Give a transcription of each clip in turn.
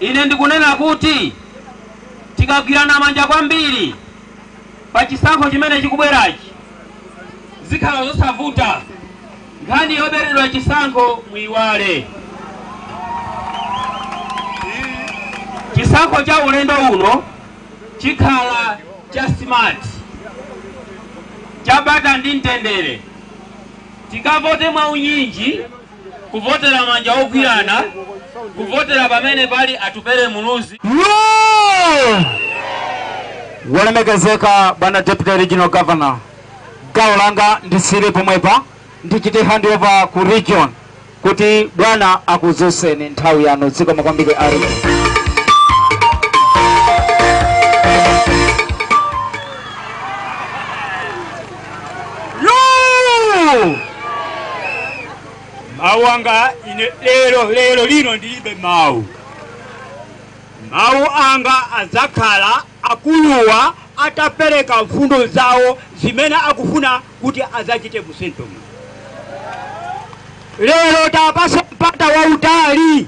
Ine ndikunena kuti tikagwirana manja kwambiri pa chisankho chimene chikubwerachi zikhala zosavuta. Nkhani yoberedwa chisankho muiwale. Chisankho cha ulendo uno chikhala cha smart, cha bata ndi mtendere. Tikavote mwaunyinji Kuvotera manja ogwirana Kuvotera pamene pali Atupele Muluzi. Wolemekezeka bwana Deputy Regional Governor, gawo langa ndisiire pomwepa ndichite handover ku region kuti bwana akuuzeni nthawi yanu dziko makwambike ari Yoo! mawu anga ine lero lero lino ndilibe mawu mawu anga adzakhala akuluwa atapereka mfundo zawo zimene akufuna kuti adzachite mu central muno lero tiwapase mpata wautali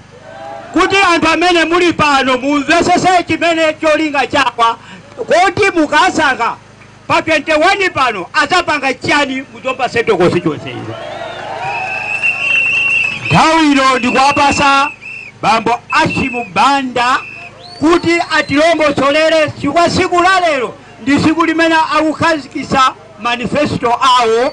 kuti anthu amene muli pano mumvesese chimene cholinga chawo kuti mukasankha Pa 21 pano azapanga chani mu Zomba Central Constituency ino? Nthawi ino ndikuwapasa bambo Hashim Banda kuti atilongosolere chifukwa tsiku la lero ndi tsiku limene akukhazikitsa manifesto awo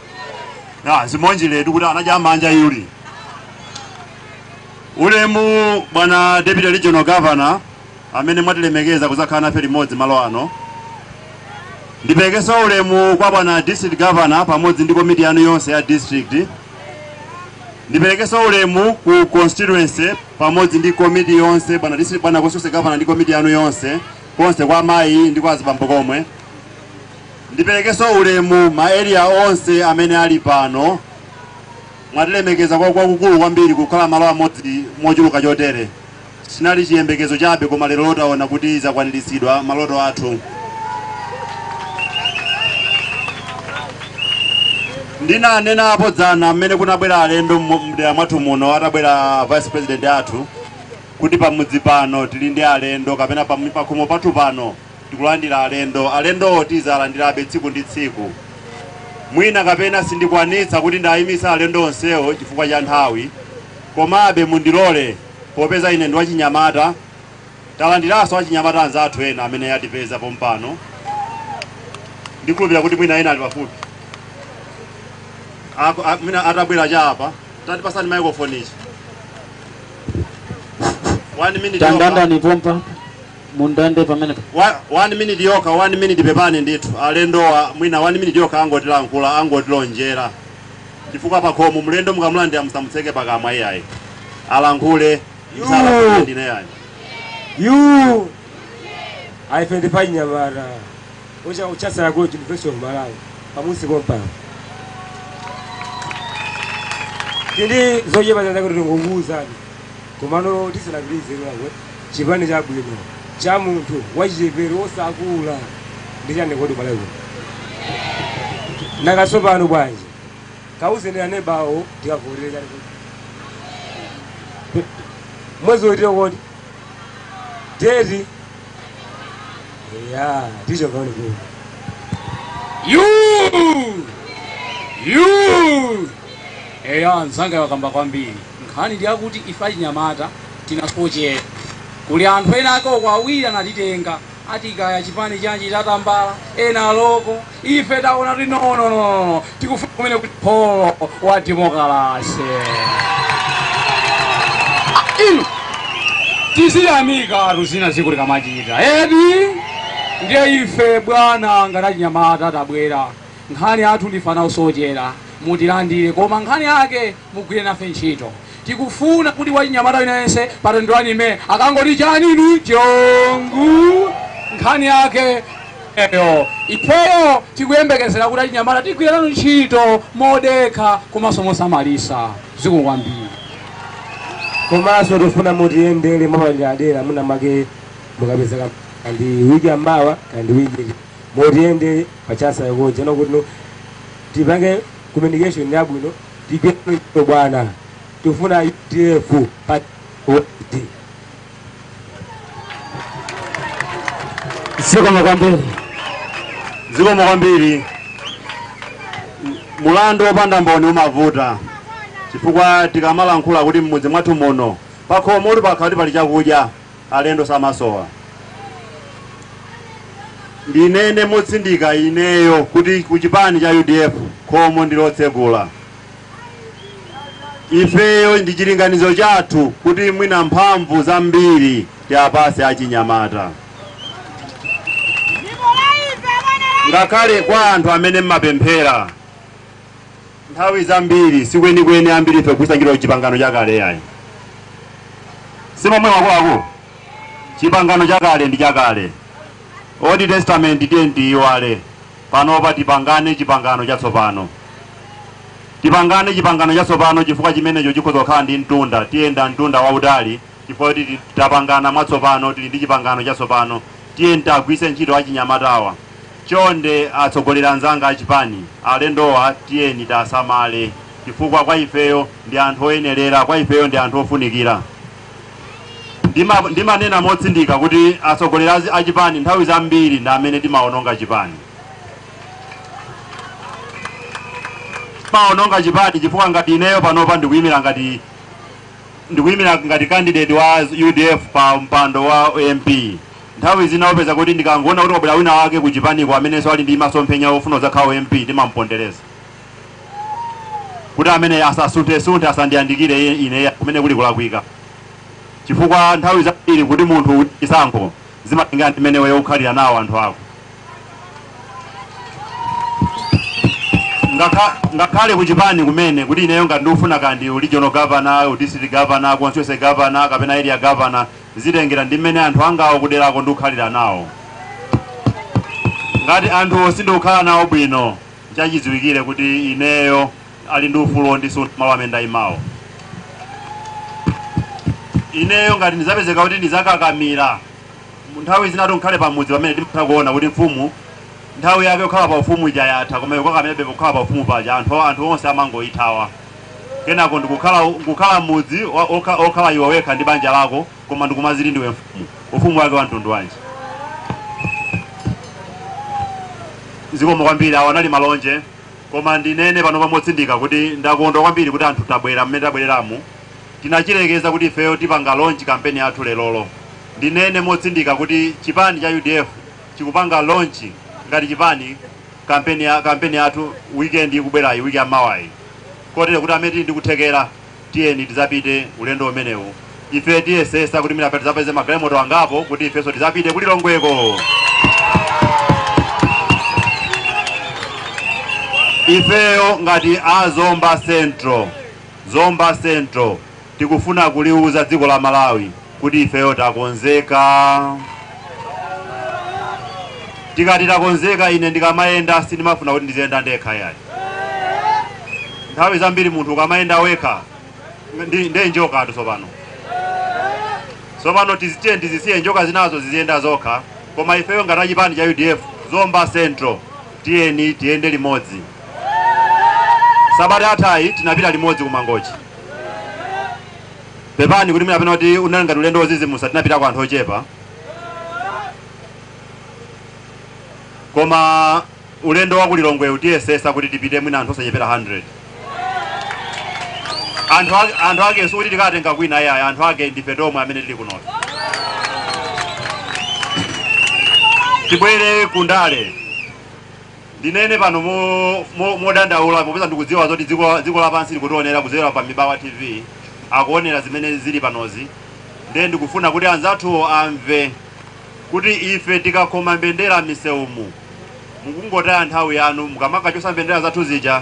ya zimonjiletu kuti anadya manja yuli ulemu bwana deputy regional governor amene mwatilemekeza kuzakhala nafe limodzi malo ano ndiperekeso ulemu kwa bwana district governor pamodzi ndi komiti yanu yonse ya district ndiperekeso ulemu ku constituency pamodzi ndi komiti yonse bwana district bwana constituency governor ndi komiti yanu yonse konse kwa amayi ndi kwa azibambo komwe Ndipelekeso ulemu ma area onse amene ali pano mwatilemekeza kwa kwakukulu kwambiri kukhala malo amodzi mochuluka chotere chinali chiyembekezo chabe koma lero taona kuti zakwanilitsidwa maloto athu ndinanena apo dzana mmene kunabwera alendo mu- mdera mwathu muno atabwera vice president athu kuti pamudzi pano tili ndi alendo kapena pamu- pakhomo pathu pano tikulandira alendo. Alendowo tizalandirabe tsiku ndi tsiku. Mwina kapena sindikwanitsa kuti ndiyimitse alendo onsewo chifukwa cha nthawi, komabe mundilore popeza ine ndi wachinyamata, talandiranso achinyamata anzathu ena amene atipeza pompano. Ndikhulupira kuti mwina ena ali pafupi. Aku, a, mwina atabwera cha apa. Tatipasani microphone ichi. One minute. Tandandani pompa. mu ndande pamenepa. Wa, one minute yokha, one minute pepani ndithu alendowa mwina one minute yokha angotilankhula, angotilonjera chifukwa pakhomo mlendo mukamulandira musamutseke pakamwa iyayi alankhule musalankhulire ndinu iyayi. You ife ndi achinyamata ochokera ku University of Malawi pamusi kompa tili ndi zoyenera zambiri zoti tingokuuzani Komano tisanapitilize Lilongwe chipani chabwino cha munthu wachichepere osakula ndi chani kodi ku Malawi kuno? Nanga tsopano bwanji kauzeni aneba anuwo tikavotere chani kodi? Mwezi utio kodi? Deti? Eya tichokaone kuno. Yuu! Yuu! Eya nzanga wakamba kwambiri. Nkhani ndi yakuti ife achinyamata tinasochera. Kuli anthu ena ake uko awiri anatitenga, ati kaya chipani chanji cha tambala, ena a loko. Ife taona kuti nonononono tikufuna kumene kuli pulo wa demokalase. Ah, inu tiziyamikatu zina zake zikamachitika eti. Ndiye ife bwana ngati achinyamata tabwera. Nkhani yathu ndife ana osochera, mutilandire koma nkhani yake mugwire nafe ntchito. Tikufuna kuti wachinyamata aliyense pa 21 May akangoti chani inu chongu nkhani yake eyo. Ifeyo tikuyembekezera kuti achinyamata tigwira nanu ntchito modekha komanso mosamalisa. Zikomo kwambiri. Komanso tifuna mutiyendere mwapaderadera mwina mwake mukapezeka kaya ndi wiki ya mawa kaya ndi wiki iti mutiyendere. pa Chanco yokha kuno kuti no tipange communication yabwino tigwire ntchito bwana tifuna UDF pa kuti zikomo kwambiri zikomo kwambiri mulandu wopanda mboni umavuta chifukwa tikamalankhula kuti mmudzi mwathu muno pakhomo kuti pakhala kuti pali chakudya Alendo samasowa. Ndinene motsindika ineyo kuti ku chipani cha udf khomo ndi lotsegula. Ifeyo ndi chilinganizo chathu kuti mwina mphamvu zambiri tiapatse achinyamata. Ngakhale kwa anthu amene mmapemphera. Nthawi zambiri sikwenikweni ambiri ife kugwiritsa ntchito chipangano chakale yayi si mwamva kuti chipangano chakale ndi chakale old testament tiye tiyiwale panopa tipangane chipangano chatsopano tipangane chipangano chatsopano chifukwa chimenecho chikhoza kukhala ndi mtunda tiyenda mtunda wautali chifukwa choti tapangana mwatsopano, tili ndi chipangano chatsopano, tiyeni tiagwiritse ntchito achinyamatawa chonde, atsogoleri anzanga achipani, alendowa tiyeni tiasamale chifukwa kwa ifeyo ndi anthu oyenerera, kwa ifeyo ndi anthu ofunikira. Ndima, ndimanena motsindika kuti atsogoleri achipani nthawi zambiri ndi amene timaononga chipani. Timaononga chipani chifukwa ngati ineyo panopa ndikuyimira ngati ndikuyimira ngati candidate wa udf pa mpando wa mp nthawi zina upeza kuti ndikangoona kuti kwabwera wina wake ku chipaniko amenenso ali ndi masomphenya ofuna kudzakhala mp timampondereza kuti ameneyu asasunthe-sunthe asandiyandikire iye- ine kumene kuli kulakwika chifukwa nthawi zambiri kuti munthu chisankho zimatengera ndi mmene iweyo ukhalira nawo anthu ako Ngakha- ngakhale kuchipani kumene kuti ineyo ngati ndikufuna kaya ndi u regional governor u district governor constituency governor kapena area governor zitengera ndi mmene anthu angawa kuderako ndikukhalira nawo ngati anthuwo sindikukhala nawo bwino n'chachidziwikire kuti ineyo ali ndi ufulu wondichotsa malo amene ndayimawo ineyo ngati ndidzapezeka kuti ndidzakakamira Nthawi zinatu ngakhale pamudzi pamene timatha kuona kuti mfumu nthawi yake yokhala pa ufumu ija yatha koma ikukakamirabe pokhala pa ufumu paja anthu anthu onse amangoithawa kenako ndikukhala kukhala mudzi wa- okha- okhala iwe wekha ndi banja lako koma ndikumadziti ndiwe mfumu ufumu wake wa mtundu wanji zikomo kwambiri awa anali malonje koma ndinene pano pamotsindika kuti ndakondwa kwambiri kuti anthu tabwera mmene tabwereramu Tinachilengeza kuti ifeyo tipanga launch kampeni yathu lerolo. Ndinene motsindika kuti chipani cha udf chikupanga launch ngati chipani kampeni ya kampeni yathu weekend ikubwerayi week ya mawayi. Kotero kuti amene tili ndi kuthekera tiyeni tizapite ulendo umenewu. Ife tiyesesa kuti mwina tizapeze magalimoto angapo kuti ifenso tizapite ku Lilongweko. Ifeyo ngati a Zomba Central Zomba Central tikufuna kuliuza dziko la Malawi kuti ifeyo takonzeka. Tikati takonzeka ine ndikamayenda sindimafuna kuti ndiziyenda ndekha yayi. Nthawi zambiri munthu ukamayenda wekha nde ndi njokatu tsopano. Tsopano tiye tizisiye njoka zinazo ziziyenda zokha koma ifeyo ngati achipani cha UDF Zomba Central tiyeni tiyende limodzi. sabata yathayi tinapita limodzi ku mangochi pepani kuti mwinapena kuti unali ngati ulendo wozizimusa tinapitako anthu ochepa koma ulendo wa kulilongwewu tiyesesa kuti tipite mwina anthu osachepera 100 anthu ake- anthu ake sikuti tikatenga kwina iyayi anthu ake ndife tomwe amene tili kunofe tibwere kundale Ndinene pano modandaula popeza ndikudziwa zoti dziko lapansi likutionera kudzera pa Mibawa TV, akuonera zimene zili panozi ndiye ndikufuna kuti anzathuwo amve kuti ife tikakhoma mbendera m'misewumu mukungotaya nthawi yanu mukamakachosa mbendera zathu zija.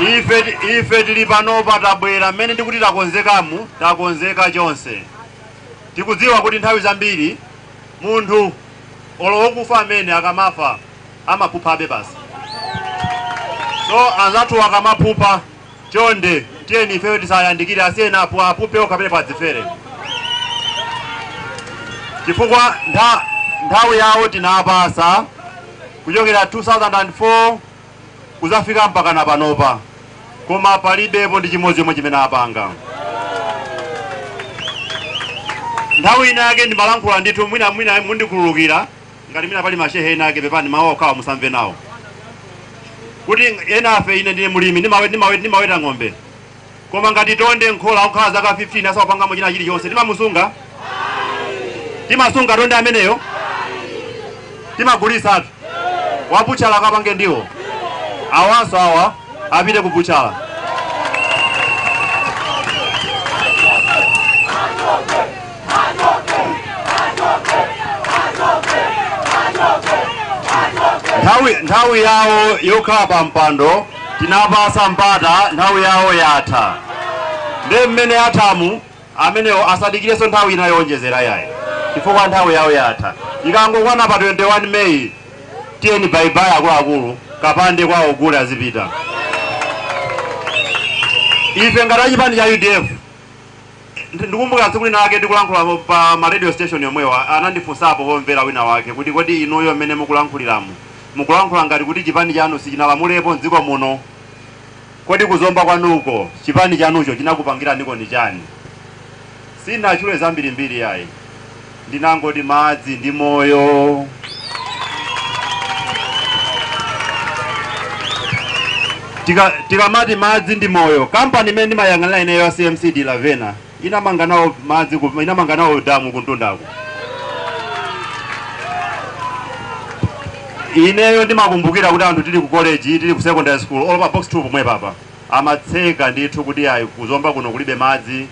Ife, ife tiri panopa tabwera mmene ndikuti takonzekamu, takonzeka chonse. Tikudziwa kuti nthawi zambiri munthu olo wokufa amene akamafa amaphuphabe basi. So anzathuwa akamaphupha, chonde tiyeni ifeyo tisayandikire, asiyeni apu aphuphe okha apite akadzifere, chifukwa ntha, nthawi yawo tinapasa kuchokera 2004 kuzafika mpakana panopa koma palibepo ndi chimodzi chomwe chimene apanga. Nthawi inayake ndimalankhula ndithu, mwina mwina mundikhululukira ngati mwina pali mashehe ena ake, pepani mawu okhawa musamve nawo, kuti enafe, ine ndine mlimi, ndimawe- ndimawe- ndimaweta ng'ombe Koma ngati tonde m'khola akukhala zaka 15 asakupangamo china chilichonse, timamusunga? Timasunga tonde ameneyo? Timagulitsatu. Wabutchala akapange ndiwo. Awanso awa apite ku butchala. nthawi nthawi yawo yokhala pa mpando tinapasa mpata nthawi yawo yatha nde mmene yathamu amenewo asadikireso nthawi ina yowonjezera yayi chifukwa nthawi yawo yatha ikangokwana pa 21 meyi tiyeni bayibayi akuluakulu kapande kwawo gule azipita ife ngati achipani cha udf Ndi- Ndikumbuka tsiku lina lake tikulankhula po- pa ma radio station yomwewa anandifunsapo pomvera wina wake kuti kodi inuyo mmene mukulankhuliramu mukulankhula ngati kuti chipani chanu sichinalamulepo mdziko muno kodi kuzomba kwanuko chipani chanucho chinakupangiraniko ni chani sindinatchule zambirimbiri yayi Ndinangoti madzi ndi moyo. Tika- tikamati madzi ndi moyo kampani imene ndimayang'anira ineyo ya cmc de la vena inamanga nawo madzi ku- inamanga nawo damu kumtundako ineyo ndimakumbukira kuti anthu tili ku college tili ku secondary school olo pa box 2 pomwepapa amatseka ndithu kuti ayi kuzomba kuno kulibe madzi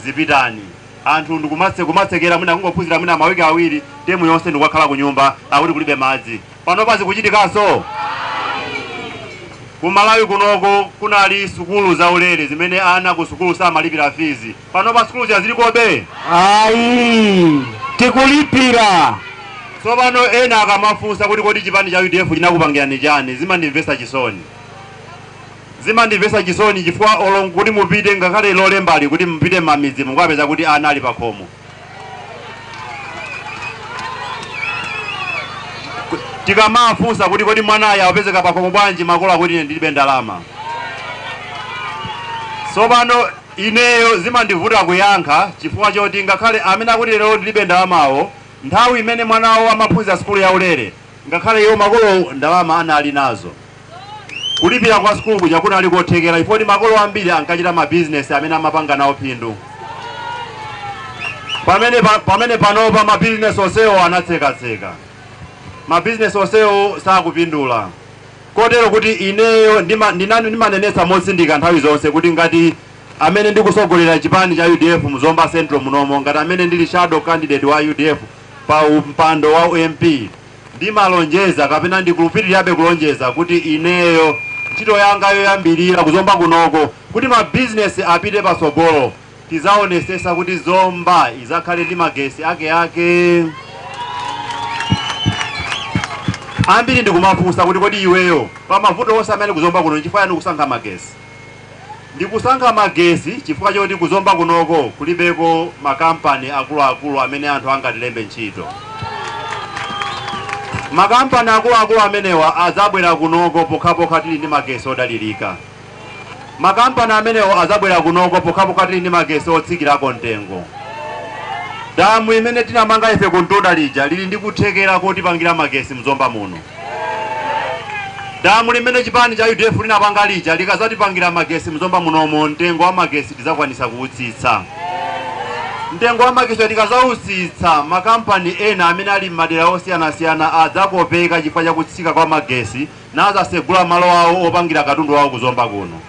zipitani anthu ndikumatse kumatsekera mwina kungophunzira mwina mawiki awiri temu yonse ndikukakhala ku nyumba akuti kulibe madzi panopa zikuchitikanso ku malawi kunoko kunali sukulu zaulere zimene ana ku sukulu samalipira fizi panopa sukulu zija zilikobe ayi tikulipira tsopano ena akamafunsa kuti kodi chipani cha udf chinakupangirani chani zimandimvesa chisoni Zimandimvesa chisoni chifukwa olo kuti mupite ngakhale lolembali kuti mupite mmamidzimu mukapeza kuti ana ali pakhomo. Tikamawafunsa kuti kodi mwanayu akupezeka pakhomo bwanji makolo akuti ine ndilibe ndalama. Sopano ineyo zimandivuta kuyankha chifukwa choti ngakhale amene akuti lero ndilibe ndalamawo nthawi imene mwana wawo amaphunzira sukulu yaulere ngakhale iwo makolowo ndalama anali nazo. Kulipira kwa sukulu kuja kunali kothekera chifukwa makolo ambiri ankachita mabizinesi amene amapanga nawo phindu. Pamene pa, pamene panopa mabizinesi onsewo anatsekatseka, mabizinesi onsewo sakupindula, kotero kuti ineyo ndima, ndina, ndimanenetsa motsindika nthawi zonse kuti ngati amene ndikusogolera chipani cha udf mu Zomba Central munomo, ngati amene ndili shadow candidate wa udf pa mpando wa MP, Ndimalonjeza kapena ndikupitilirabe kulonjeza kuti ineyo, ntchito yanga yoyambilira ku Zomba kunoko kuti ma business apite patsogolo tizaonesesa kuti Zomba izakhale ndi magesi akeake. Ambiri ndikumafunsa kuti kodi iweyo pamavuto onse amene ali ku Zomba kuno nchifukwa yani ukusankha magesi? Ndikusankha magesi chifukwa choti ku Zomba kunoko kulibeko ma kampani akuluakulu amene anthu angatilembe ntchito. Ma kampani akuluakulu amenewa adzabwera kunoko pokhapokha tili ndi magesi odalirika. Ma kampani amenewo adzabwera kunoko pokhapokha tili ndi magesi otsikirako mtengo. Damu imene tinamanga ife kumtunda lija lili ndi kuthekera kotipangira magesi mZomba muno. Damu limene chipani cha udf linapanga lija likazatipangira magesi mzomba munomo mtengo wa magesi tidzakwanisa kuutsitsa. Mtengo wa magesi tikazautsitsa ma kampani ena amene ali m'madera osiyanasiyana adzakopeka chifukwa cha kutsika kwa magesi nazasegula malo awo opangira katundu awo ku zomba kuno.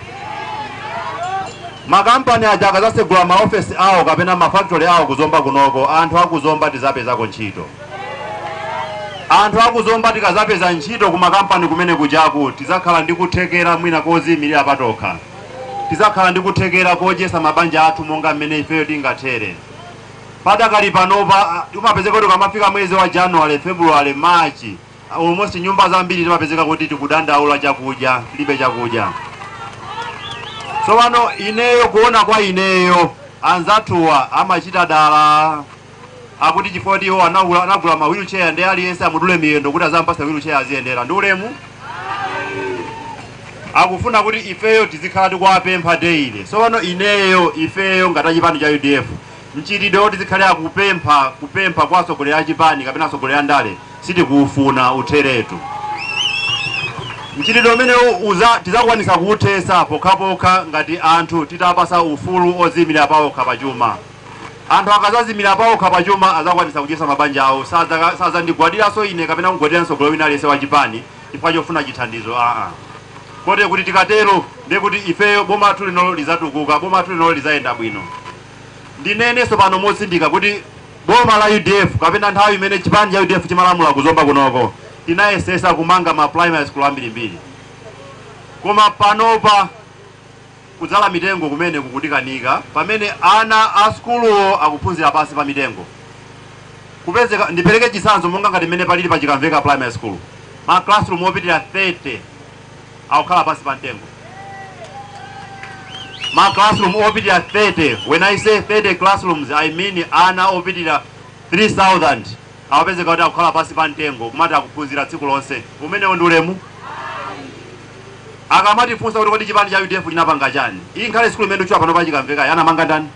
Makampani aja akazasegula ma ofesi awo kapena ma factory awo ku zomba kunoko anthu a ku zomba tizapezako ntchito. Anthu aku Zomba tikazapeza ntchito ku makampani kumene kujaku tizakhala ndi kuthekera mwina koziimilira patokha. Tizakhala ndi kuthekera kodyesa mabanja athu monga mmene ifeyo tingathere. Padakali panopa mapezeka tikamafika mwezi wa January, February, March almost nyumba zambiri timapezeka kuti tikudandaula chakudya, tilibe chakudya. Tsopano ineyo kuona kwa ineyo anzathuwa amachita dala. akuti iwo anagula ma wheelchair ndi aliyense amudule miyendo kuti azampasa wheelchair aziyendera ndi ulemu akufuna kuti ifeyo tizikhala tikuwapempha daily sopano ineyo ifeyo ngati achipani cha udf mchitidwe woti tizikhale akupempha kupempha kwa atsogoleri a chipani kapena atsogoleri a ndale sitikuufuna utheretu mchitidwe umene uwu tizakwanisa kuuthesa pokhapokha ngati anthu titapasa ufulu oziimira paokha pachuma Anthu akazazimira paokha pa chuma azakwanitsa kudyesa mabanja awo sadza sadzandigwadilaso ine kapena kugwadila mtsogoleri wina aliyese wa chipani chifukwa chofuna chithandizo aa koti kuti tikatero ndiye kuti ifeyo boma lathu linolo lizatukuka boma lathu linolo lizayenda bwino ndineneso pano motsindika kuti boma la udf kapena nthawi imene chipani cha udf chimalamula kuzomba kunoko tinayesesa kumanga ma primary school ambirimbiri koma panopa Kudzala mitengo kumene kukutikanika pamene ana a sukuluwo akuphunzira pansi pa mitengo. Kupezeka, ndipereke chitsanzo monga ngati mmene palili pa Chikamveka Primary School. Ma classroom opitirira 30 akukhala pansi pa mtengo. Ma classroom opitirira 30, when I say 30 classrooms I mean ana opitirira 3000 Apezeka kuti akukhala pansi pa mtengo kumati akuphunzira tsiku lonse. Umenewo ndi ulemu? Akamatifunsa kuti kodi chipani cha udf chinapanga chani? Iyi ngakhale sukulu imene ndikutchula panopayi chikamvekayi anamanga ndani?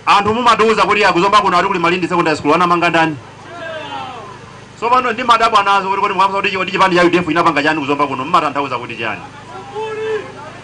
Anthu mumatiuza kuti ya ku Zomba kuno ati kuli Malindi Secondary School anamanga ndani? Tsopano ndimadabwa nazo kuti kodi mukafunsa kuti kodi chipani cha udf chinapanga chani ku Zomba kuno mumatanthauza kuti chani?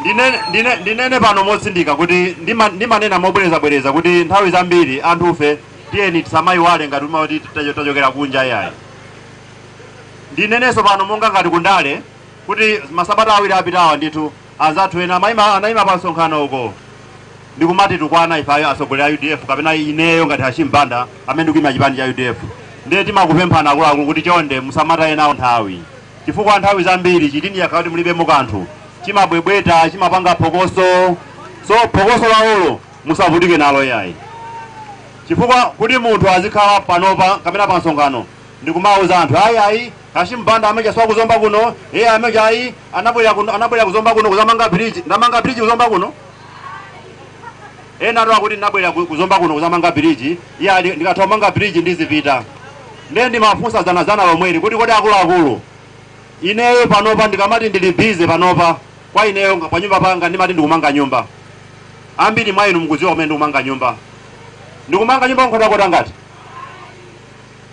Ndine, ndine, ndinene pano motsindika kuti ndima, ndimanena mobwerezabwereza kuti nthawi zambiri anthufe tiyeni tisamayiwale atati tacho- tachokera kunja iyayi. Ndinenenso pano monga ngati kundale kuti masabata awiri apitawa ndithu anzathu ena amayima anayima pa msonkhano ndikumatitukwana ife ayo atsogoleri a UDF kapena ineyo ngati Hashim Banda amene ndikuyima chipani cha UDF. Ndiye ndimakupemphani akuluakulu kuti chonde musamataye nawo nthawi. chifukwa nthawi zambiri chitini chikakhala kuti mulibemo kanthu chimabwebweta chimapanga phokoso so phokoso lawolo musavutike nalo yayi chifukwa kuti munthu azikhala panopa kapena pa msonkhano ndikumauza anthu ayi ayi Hashim Banda ameneuja siwa ku Zomba kuno iye ameneuja ayi anabwera kuno anabwera ku Zomba kuno kuzamanga bridge ndamanga bridge ku Zomba kuno ena akuti ndinabwera ku- ku Zomba kuno kuzamanga bridge iya ndi- ndikatha kumanga bridge ndizipita ndiye ndimafunsa dzanadzana lomweli kuti kodi akuluakulu ineyo panopa ndikamati ndili busy panopa kwa ineyo pa nyumba panga ndimati ndikumanga nyumba ambiri mwa inu mukudziwa kumene ndikumanga nyumba ndikumanga nyumba ku Nkhotakota ngati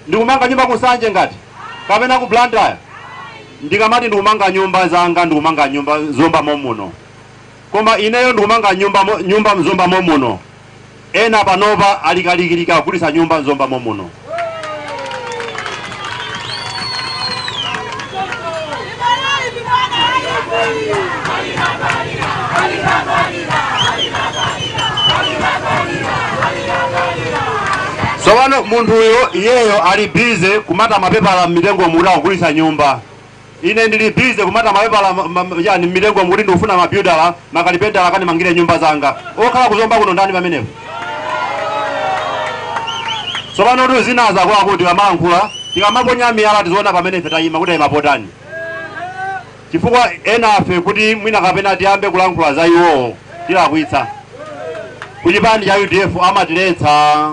ndikumanga nyumba ku Nsanje ngati kapena ku Blantyre ndikamati ndikumanga nyumba zanga ndikumanga nyumba m'Zomba momuno Koma ineyo ndikumanga nyumba nyumba m'Zomba momuno ena panopa ali kalikiliki akugulitsa nyumba m'Zomba momuno. Tsopano munthuyo iyeyo ali busy kumata mapepala mmitengo mu kuti akugulitsa nyumba. Ine ndili busy kumata mapepala ma, ma, chani mmitengomu kuti ndikufuna ma builder ma kalipentala akandimangire nyumba zanga. Okhala ku Zomba kuno ndani pamenepo? Tsopano zinazi akuluakulu tikamalankhula, tikamaponya miyala tiziona pamene ife tayima kuti tayima potani. Chifukwa enafe kuti mwina kapena tiyambe kulankhula za iwowo tilakwitsa. Ku chipani cha udf amatiletsa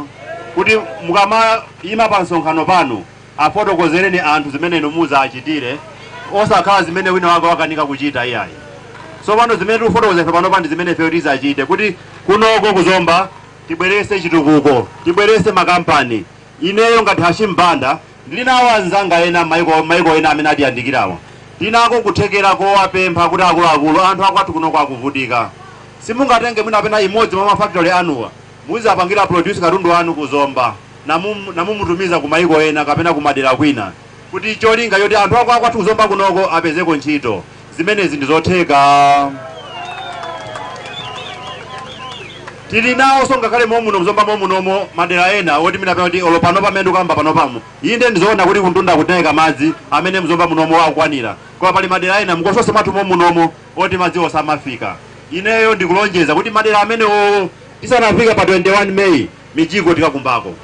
kuti mukamayima pa msonkhano pano Afotokozereni anthu zimene inu mudzawachitire, osakhala zimene wina wake wakanika kuchita iyayi. Tsopano zimene tikufotokoza ife panopa ndi zimene ifeyo tidzachite kuti kunoko ku Zomba tibweretse chitukuko, tibweretse makampani. Ineyo ngati Hashim Banda ndili nawo anzanga ena m'maiko m'maiko ena amene atiyandikirawa. Tili nako kuthekera kowapempha kuti akuluakulu, anthu akwathu kunoko akuvutika. Simungatenge mwina kapena imodzi mwa ma factory anuwa? Muzapangire produce katundu wanu ku Zomba namumutumiza ku maiko ena kapena kumadera kwina kuti cholinga choti anthu akwathu ku Zomba kunoko apezeko ntchito. Zimenezi ndi zotheka? Tili naonso ngakhale momuno mu Zomba momunomo madera ena woti mwina pena kuti olo panopa pamene ndikukamba panopamu inde ndi zoona kuti kumtunda kutayika madzi amene mu Zomba munomo akukwanira koma pali madera ena mkonsosi mwathu momunomo oti madziwo samafika. Ineyo ndikulonjeza kuti madera amenewowo Tisanafike pa 21 May mijigo tikakumbako.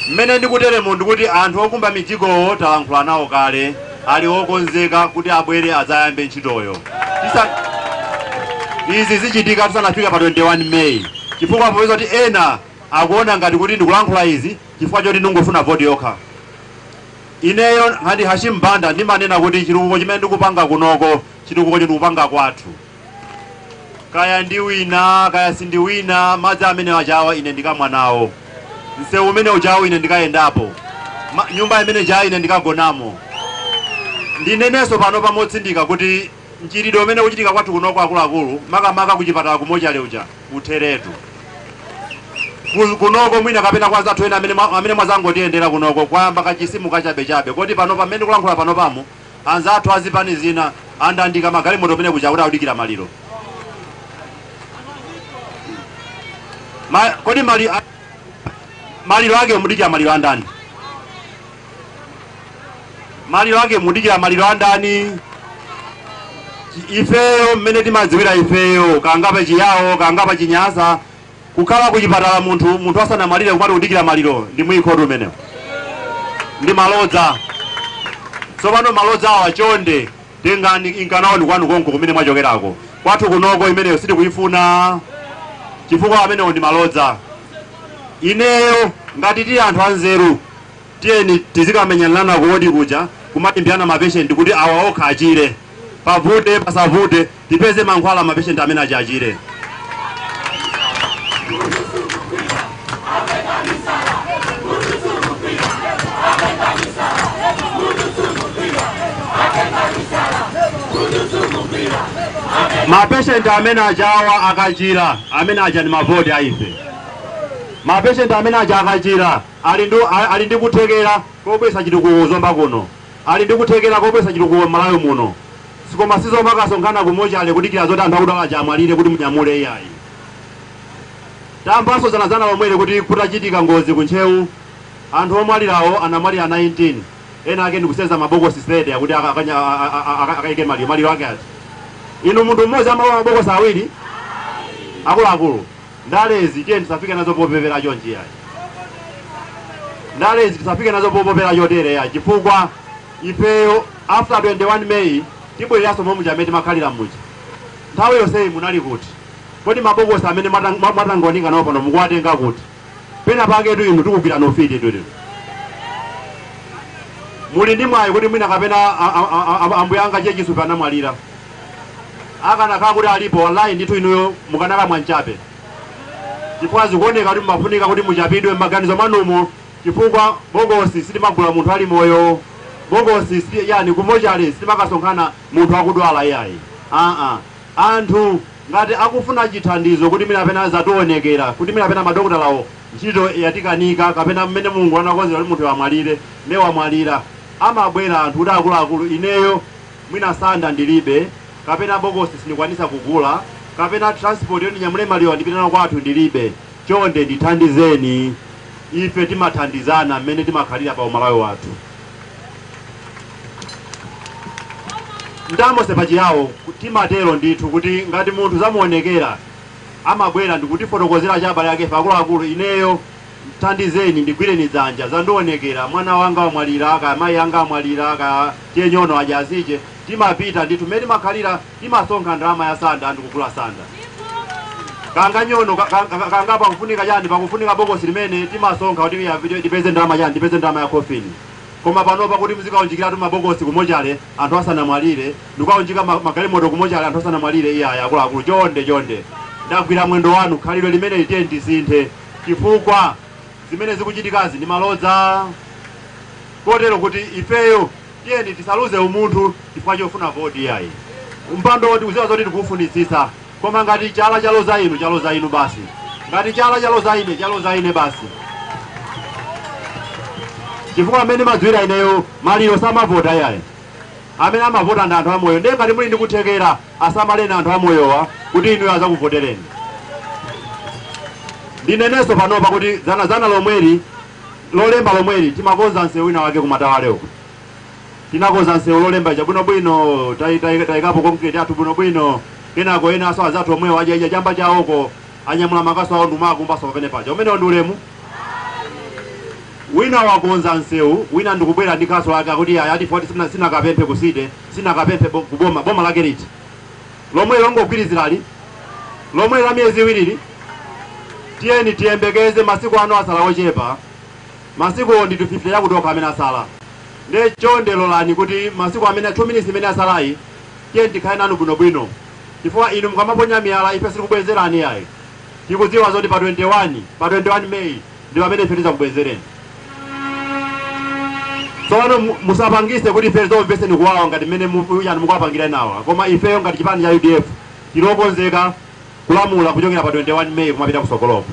Mmene ndikuteremu ndikuti anthu okumba mijigowo talankhula nawo kale, ali okonzeka kuti abwere adzayambe ntchitoyo. Izi zichitika tisanafike pa 21 May chifukwa podziwa kuti ena akuona ngati kuti ndikulankhula izi chifukwa choti ndikungofuna voti yokha, ineyo ngati Hashim Banda ndimanena kuti chitukuko chimene ndikupanga kunoko, chitukukocho ndikupanga kwathu. kaya ndiwina kaya sindiwina madzi amene ajawo ine ndikamwa nawo msewu umene ujawo ine ndikayendapo Ma, nyumba imene ijayo ine ndikagonamo ndinenenso pano pompano motsindika kuti mchitidwe umene ukuchitika kwathu kunoko akuluakulu makamaka kuchipatala kumochale uja utheretu Ku- kunoko mwina kapena kwa anzathu ena amene mwa- amene mwazangotiyendera kunoko kwayamba kachizimu kachabechabe koti pano pamene ndikulankhula panopamo Anzathu a zipani zina andandalika magalimoto kumene kuja kuti akudikira maliro. Ma, kodi mali, a, maliro ake mudikira maliro andani? Maliro ake mudikira maliro andani? Ifeyo mmene timadziwira ifeyo kangapa chiyawo kangapa chinyasa Kukhala kuchipatala munthu munthu asanamwalire kumati kudikira maliro ndi mwikotu umenewo. Ndi malodza. Tsopano malodzawa chonde tengani nkanawoni kwanu konko kumene mwachokerako. Kwathu kunoko imeneyo sitikuyifuna chifukwa amenewo ndi malodza. Ineyo ngati tili anthu anzeru tiyeni tizikamenyanirana ku wodi kuja kumalimbirana mapeshenti kuti awa okha achire. Pavute pasavute Tipeze mankhwala ma patient amene aja achire. Ma patient amene ajawa akachira amene aja ndi mavoti a ife. Ma patient amene aja akachira ali ndi ali ndi kuthekera kobweretsa chitukuko ku Zomba kuno. Ali ndi kuthekera kobweretsa chitukuko m'Malawi muno koma sizomakasonkhana ku mochale kukadikira zoti anthu akudwala aja amwalire kuti munyamule iyayi. Tamvanso dzanadzana lomweli kuti kutachitika ngozi ku Ntcheu anthu omwalirawo anamwalira 19 ena ake ndikuseza mabokosi 30 akuti akaike maliro. Maliro ake ati? Inu munthu mmodzi amalowa mabokosi awiri? Akuluakulu. Ndalezi tiyeni tisafike nazo popepera chonchi yayi. Ndalezi tisafike nazo popepera chotere yayi chifukwa ifeyo after 21 May tibwereranso momwe muja mmene timakhalira muja. Nthawi yonseyi munali kuti? Kodi mabokosi amene mwatang- mwa- mwatangonika nawo pano mukuwatenga kuti? Pena paketu inu tikugwirani ufiti tu inu. Muli ndi mwayi kuti mwina kapena a- a- a- a- ambuye anga Che Chisupe anamwalira. Akanakhala kuti alipo wallahi ndithu inuyo mukanakamwa nchape chifukwa zikuoneka kuti mumafunika kuti muchapidwe mmaganizo mwanumo chifukwa bokosi sitimagula munthu ali moyo, bokosi si yani ku mochale sitimakasonkhana munthu akudwala iyayi aa anthu ngati akufuna chithandizo kuti mwina kapena zakuonekera kuti mwina kapena madokotalawo ntchito yawakanika kapena mmene Mulungu anakonzera kuti munthuyo amwalire nde wamwalira amabwera anthu kuti akuluakulu ineyo mwina sanda ndilibe, kapena bokosi sindikwanisa kugula, kapena transport yoti ndinyamule malirowa ndipite nawo kwathu ndilibe, chonde ndithandizeni. Ife timathandizana mmene timakhalira pa uMalawi wathu. Ndamose pa Chiyao timatero ndithu kuti ngati munthu zamuonekera amabwera ndikutifotokozera kuti abale akefe akuluakulu, ineyo Thandizeni, ndigwireni dzanja, zandionekera, mwana wanga wamwalira, kaya mayi anga amwalira, kaya che nyono aja azije. Timapita ndithu mmene timakhalira, timasonkha ndalama ya sanda ndi kugula sanda. Kanga nyono, ka- ka- ka- kanga pakufunika chani, pakufunika bokosi limene timasonkha kuti ya- kuti tipeze ndalama chani, tipeze ndalama ya coffin. Koma panopa kuti muzikaunjikiratu mabokosi kumochale anthu asanamwalire, ndikukaunjika ma- magalimoto kumochale anthu asanamwalire, iyayi akuluakulu, chonde chonde. Ndagwira mwendo wanu, khalidwe limeneli tiyeni tisinthe. chifukwa zimene zikuchitikazi ndi malodza kotero kuti ifeyo tiyeni tisaluze umunthu chifukwa chofuna voti iyayi mpando tikuziwa zoti tikuufunitsitsa koma ngati chala chaloza inu chaloza inu basi ngati chala chaloza ine chaloza ine basi chifukwa mmene ndimadziwira ineyo maliro samavota iyayi Amene amavota ndi anthu amoyo ndiye ngati muli ndi kuthekera asamaleni anthu amoyowa kuti inuyo azakuvotereni. Ndinenenso panopa kuti dzanadzana lomweli, Lolemba lomweli timakonza msewu wina wake ku Matawale uku. Tinakonza msewu Lolemba ija bwinobwino, tai- tai- taikapo concrete yathu bwinobwino, kenako enanso anzathu omwewo aja ija chamba chawoko anyamula makasu awo ndikumawakumbaso pamene paja umenewo ndi ulemu wina wakonza msewu wina ndikubwera ndi kasu lake akuti iyayi ati foti sina- sinakapemphe kusite sinakapemphe bo- kuboma boma lake liti lomwe longogwirizirali lomwe la miyezi iwiriyi tiyeni tiyembekeze masiku ano asala ochepa masiku ndi 50 yakutoka amene asala nde chonde lolani kuti masiku amene 2 minutes imene asalayi Tiyeni tikhale nanu bwinobwino chifukwa inu mukamaponya miyala ife sitikubwenzerani iyayi. Tikudziwa zoti pa 21, pa 21 May ndi pamene ife tidzakubwenzereni. Tsopano mu, musapangise kuti ife tizomveseni kuwawa ngati mmene mu, yani mukuwapangira enawa koma ifeyo ngati chipani cha udf tili okonzeka kulamula kuchokera pa 21 May kumapita kutsogoloko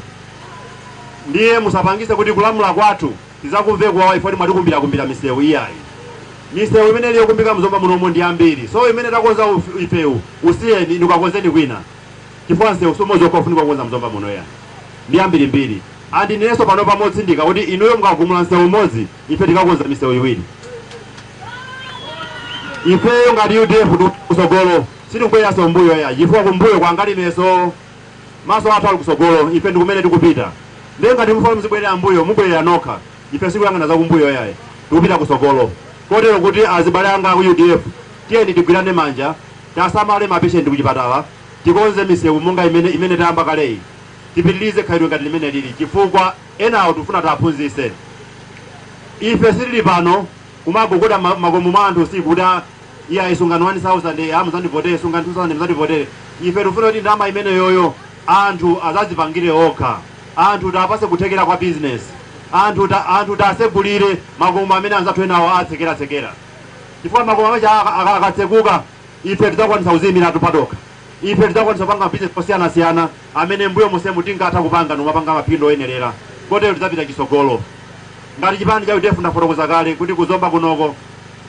ndiye musapangise kuti kulamula kwathu Tizakumve kuwawa chifukwa inu mwatikumbira kumbira misewu iyayi misewu imene ili yokumbika mzomba munomo ndi yambiri so imene takonza ifewo usiyeni inu kakonzeni kwina chifukwa msewu siumodzi okha ufunika kukonza mzomba muno iyayi ndi yambirimbiri and ndineso panopa motsindika kuti inuyo mukagumula msewu umodzi ife tikakonza misewu iwiri ifeyo ngati udf kusogolo sitikubwereranso mbuyo iyayi chifukwa kumbuyo kwangaliko Maso athu ali kutsogolo, ife ndi kumene tikupita. Ndiye ngati mufuna muzibwerera m'mbuyo, mubwerera nokha. Ife sikuyang'ana zakumbuyo iyayi, tikupita kutsogolo. Kotero kuti azibale anga aku udf, tiyeni tigwirane manja, tiasamale ma patient kuchipatala, tikonze misewu monga mmene tayamba kaleyi, tipitilize khalidwe ngati limene tili chifukwa enawo tikufuna tiaphunzitse. Ife sitili pano. kumagogoda mmakomo mwa anthu usiku kuti a iyayi sungani 1000 a muzandivotere sungani 2000 muzandivotere ife tikufuna kuti ndalama imeneyoyo anthu azazipangire okha anthu tiwapase kuthekera kwa business anthu ta, anthu tasegulire makomo amene anzathu enawo atsekera tsekera chifukwa makomo amene akatseguka ife tidzakwanisa kuziyimiratu patokha Ife tidzakwanitsa kupanga mabizinesi osiyanasiyana amene m'mbuyo monsemu tinkatha kupanga ndikumapanga maphindu oyenerera kotero tidzapita chitsogolo ngati chipani cha udf. Ndafotokoza kale kuti ku Zomba kunoko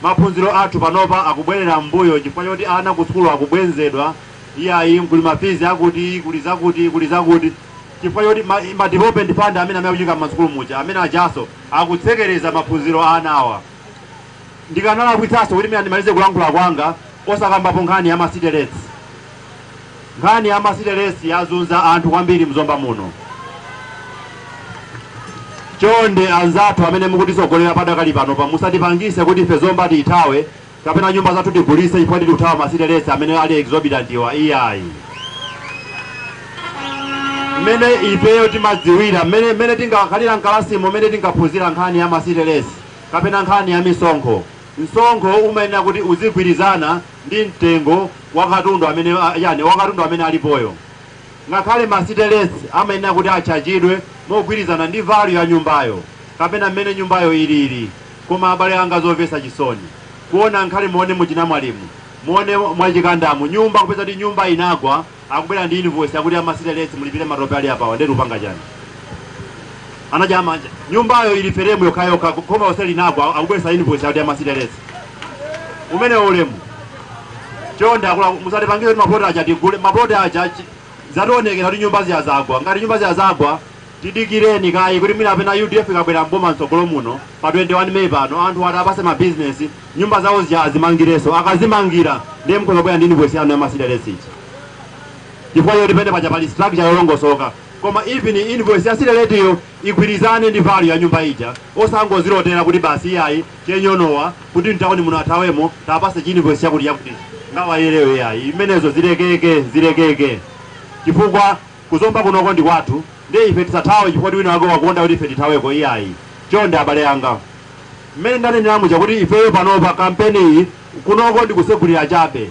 maphunziro athu panopa akubwerera m'mbuyo chifukwa choti ana kusukulu akubwenzedwa iyayi kuli mafizi akuti, kuli zakuti, kuli zakuti chifukwa choti ma ma development fund amene akuchitika m'masukulu muja amene ajanso akutsekereza maphunziro a anawa. Ndikanalakwitsanso kuti mwina ndimalize kulankhula kwanga. Osakambapo nkhani ya ma city rates. Nkhani ya ma city rates yazunza anthu kwambiri mzomba muno. Chonde anzathu amene mukutitsogolera padakali panopa musatipangise kuti ife zomba tiithawe kapena nyumba zathu tigulise chifukwa choti tikuthawa ma city rates amene ali exorbitant wa iyayi. Mmene ifeyo timadziwira mmene tinkakhalira mkalasimo mmene tinkaphunzira nkhani ya ma city rates kapena nkhani ya misonkho Msonkho umayenera kuti uzigwirizana ndi mtengo wa katundu amene a, yani, wa katundu amene alipoyo. Ngakhale ma city rates amayenera kuti atchajidwe mogwirizana ndi value ya nyumbayo kapena mmene nyumbayo ilili. Koma abale anga zovesa chisoni kuona ngakhale muone muchinamwalimu muone mwachikandamu nyumba kupeza kuti nyumba inagwa akubwera ndi invoice akuti a ma city rates mulipire matope ali apawa ndetu mupanga chani anajaa manja nyumbayo ili feremu yokhayokha khoma onse linagwa akubweresa invoice akuti a ma city rates umenewo ulemu chonde akula musatipangire kuti mapoto aja tigule mapoto aja chi- zatiwonekera kuti nyumba zija zagwa ngati nyumba zija zagwa Tidikireni kaye kuti mwina kapena udf ikabwera m'boma mtsogolo muno pa 21 May pano anthuwa tiwapatse ma business, nyumba zawo zija azimangirenso. Akazimangira ndiye mukhoza kubwera ndi invoice yanu ya ma city rates ija chifukwa choti pene paja pali structure yolongosoka. Koma even invoice ya city rates yo igwirizane ndi value ya nyumba ija osangozilotera kuti basi iyayi che Nyonowa kuti mtauni muno athawemo tiwapatse chi invoice chakuti chakutichi. Nga wayelewe iyayi. Zimenezo zilekeke, zilekeke chifukwa Ku Zomba kunoko ndi kwathu ndiye ife tisathawe kuti wina wake wakonda kuti ife tithaweko iyayi. Chonde abale anga, mmene ndanenera muja kuti ifeyo panopa kampeniyi kunoko ndi kusegulira chabe.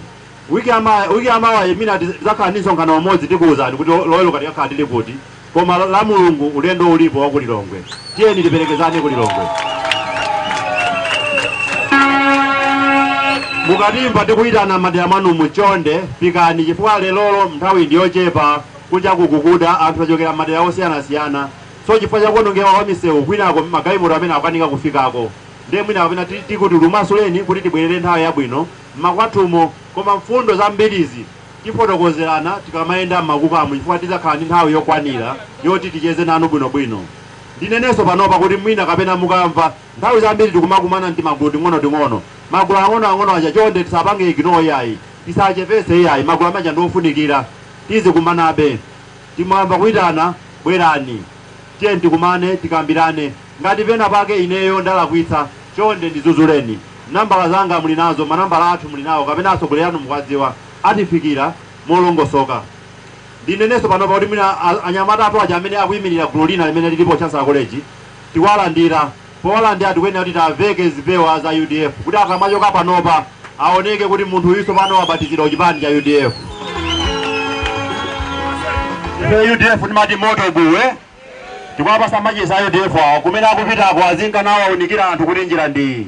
Week ya mawa, week ya mawayi mwina tidzakhala ndi msonkhano umodzi tikuwuzani kuti Loweruka tikakhala tili kuti koma Lamulungu ulendo ulipo wa ku Lilongwe. Tiyeni tiperekezane ku Lilongwe. Mukatimva tikuyitana m'madera mwanumu, chonde fikani chifukwa lerolo nthawi ndi yochepa, kunjaku kukuda, anthu tachokera m'madera osiyanasiyana so chifukwa cha kuonongeka kwa misewu kwinako magalimoto amene akukanika kufikako nde mwina kapena tikuti timasuleni kuti tibwerere nthawi yabwino m'makwathumo koma mfundo zambirizi Tifotokozerana tikamayenda m'makukamu chifukwa tidzakhala ndi nthawi yokwanira yoti ticheze nanu bwinobwino. Ndinenenso panopa kuti mwina kapena mukamva nthawi zambiri tikumakumana m'timagulu ting'onoting'ono. Magulu ang'onoang'ono aja chonde tisapange ignore iyayi, tisachepetse iyayi, magulu ameneaja ndi ofunikira. Tizikumanabe. Mukamva kuitana bwerani tiyeni tikumane tikambirane ngati pena pake ineyo ndalakwitsa chonde ndidzudzuleni nambala zanga muli nazo manambala athu muli nawo kapena atsogoleri anu mukuadziwa atifikira molongosoka ndineneso panopa kuti mwina anyamata athu aja amene akuimilira gulu lina limene lilipo Chancellor College tikualandira Bola ndiye tikuyenera kuti tiaveke zipewa za udf kuti akamachoka panopa aoneke kuti munthu uyu tsopano wabatizidwa ku chipani cha udf. Ife udf timati moto buwe tikwapasa machesi a udf awo kumene akupitako azinka nawo aunikira anthu kuti njira ndi iyi.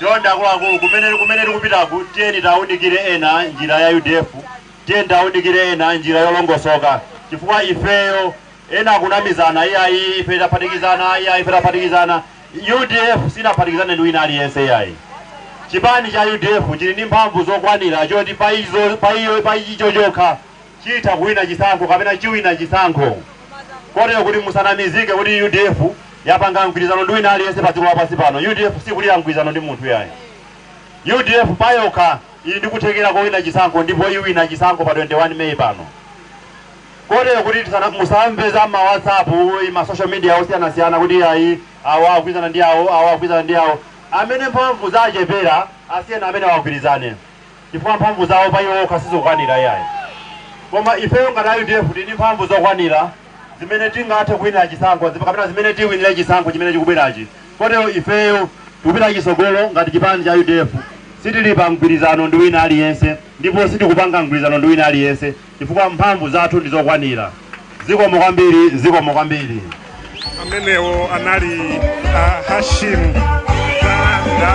Chonde akuluakulu, kumene kumene tikupitaku, tiyeni tiaunikire ena njira ya udf, tiyeni tiaunikire ena njira yolongosoka, chifukwa ifeyo ena akunamizana, iyayi ife taphatikizana, iyayi ife taphatikizana. Udf sinaphatikizane ndi wina aliyense iyayi. Chipani cha udf chili ndi mphamvu zokwanira choti pa izo pa iyo pa icho chokha chitha kuwina chisankho kapena chiwina chisankho kotero kuti musanamizike kuti udf yapanga mgwirizano ndi wina aliyense pa dziko lapansi pano. Udf sikulira mgwirizano ndi munthu yayi. Udf payokha ili ndi kuthekera kowina chisankho ndipo iwina chisankho pa 21 May pano kotero kuti tisana- musamve za ma whatsapp ma social media osiyanasiyana kuti ayi awo agwirizana ndi awo awo agwirizana ndi awo amene mphamvu zachepera asiyeni amenewo agwirizane chifukwa mphamvu zawo pa iwo okha sizikukwanira iyayi koma ifeyo ngati a udf tili ndi mphamvu zokwanira zimene tingathe kuwinira chisankho zip- kapena zimene tiwinire chisankho chimene chikubwerachi kotero ifeyo tikupita chisogolo ngati chipani cha udf sitili pa mgwirizano ndi wina aliyense ndipo sitikupanga mgwirizano ndi wina aliyense chifukwa mphamvu zathu ndi zokwanira. Zikomo kwambiri, zikomo kwambiri. Amenewo anali a Hashim Banda.